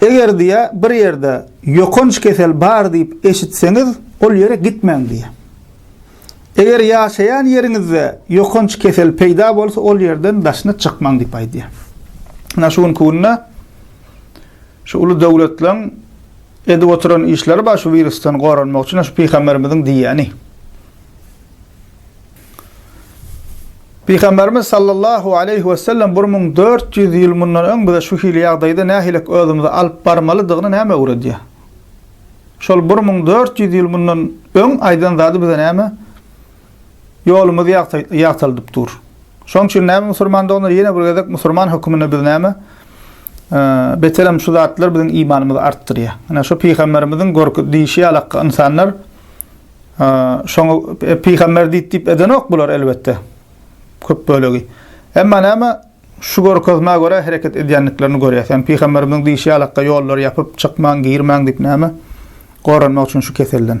Eger diýýär, bir ýerde ýokanç kesel bar diýip eşitseňiz, ol ýere gitmäň diýýär. Eger ýaşaýan ýeriňizde ýokanç kesel peýda bolsa, ol ýerden daşyna çykmaň diýip aýdýar. Ynha şu günki günde şu uly döwletleriň edip oturan işleri bar şu wirusdan goranmak üçin, şu pygamberimiziň diýýäni. Pygamberimiz sallallahu aleýhi wesellem bir müň dört ýüz ýyl mundan öň bize şu hili ýagdaýda nähilek özümizi alyp barmalydygyny näme öwredýär? Şol bir müň dört ýüz ýyl mundan öň aýdan zady bize näme ýolumyzy ýagtaldyp dur? Şoň üçin näme musurman doganlar ýene bir gezek musurman höküminde biz näme beterem şu zatlar biziň imanymyzy artdyrýar. Ine şu pygamberimiziň görk diýşi ýalak ynsanlar Şoňa pygamber diýip diýip edenok bular elbetde. Köp bölegi. Emma näme şu görkezmä görä hereket edýändiklerini görýäs. Ýani pygamberimiziň diýşi ýalakda ýollary ýapyp, çykmaň, girmäň diýip näme? Goranmak üçin şu keselden.